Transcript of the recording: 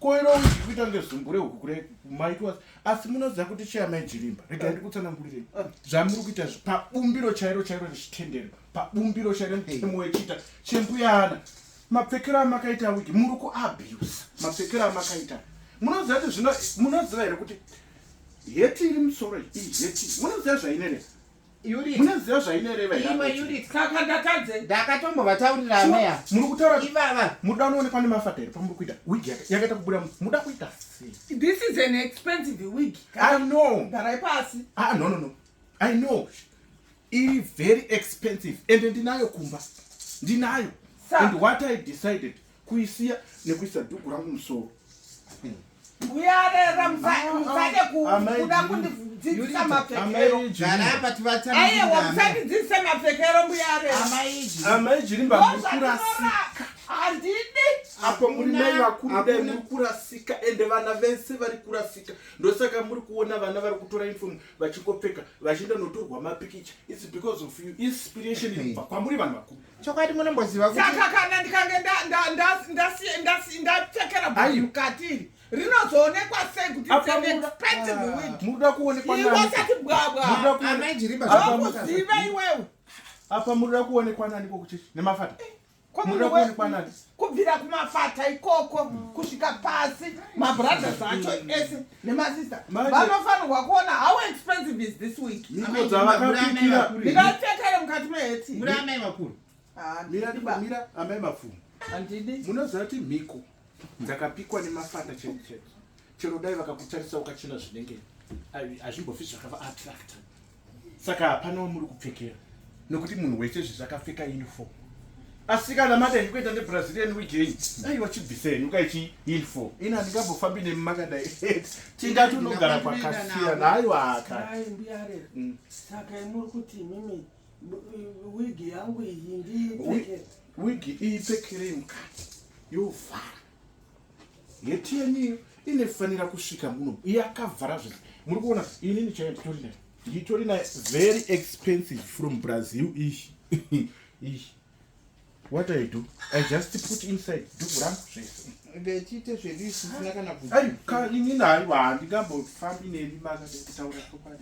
Ko iro uchikuita kunge zumbure huku kure maitwa asi munoziva kuti cheya mai Jirimba rega ndi kutsanangurire zvamuri kuita pabumbiro chairo chairo rechitendero pabumbiro chairo mutemo wechita chembuyana mapfekero amakaita wiki muri kuabuse mapfekero amakaita munoziva kuti zvino munoziva here kuti heti iri musoro iyi heti munoziva zvainere Unit. Munoziva zvainoreva here? Imwe unit. Saka ndatadze. Ndakatombovataurira Sure. meya. Muri kutaura Ivava. muda unoonekwa nemafata here pamuri kuita wig yaka- yakaita kubuda mu- muda kuita sei? This is an expensive wig. I know. Garai pasi. Ah, no, no, no. I know. Iri very expensive and ndinayo kumba. Ndinayo. Sir. And what I decided kuisiya nekuisa dhuku rangu musoro uyarera musade kuda kundidzidzisa mapfekeroaiwa musandidzidzise mapfekero mbuyareamaijirimbamurasika handidi apo muri mai vakuru dai muri kurasika ende vana vese vari kurasika ndosaka muri kuona vana vari kutora uniform vachingopfeka vachienda notorwa mapikicha its because of you inspiration inobva kwamuri vanhu vakuru chokwadi munomboziva kuti saka kana ndikange ndapfekera bhazi mukati iri rinozoonekwa sei kuti it's an expensive ah, wig muda kuonekwa nani iwasati bwabwa amai jiriba zvakuziva iwewe apa muda kuonekwa nani kokuchechi nemafata eh, muda kuonekwa nani kubvira kumafata ikoko mm. kusvika pasi mabrothers acho ese nemasister vanofanirwa kuona how expensive is this week ndikapfekere mukati meheti amai mafumi munoziva kuti mhiko dzakapikwa nemafata chete chete chero dai vakakutarisa ukachena zvinenge hazvimbofi zvakava attracta saka hapana wamuri kupfekera nokuti munhu wese zvezvi akapfeka uniform asi kana madai kuita nebrazilian weekend dai wachibvisa henyu kaichi uniform ini handingambofambi nemi makadai tinda tunogara kwakasiyana haiwaka mm. saka imuri kuti mimi wigi yangu iyi ndiipfekere wigi iipfekerei mukati yovhara heti yenyu iyo inofanira kusvika muno yakavhara zvese muri kuona inini chaiyo nditori nayo nditori nayo very expensive from brazil ishi ishi what i do i just put inside duku rangu zvese ndechite zvedu isisina kana kuti inini haiwa handingambofambi nemi maka ndikutaura chokwadi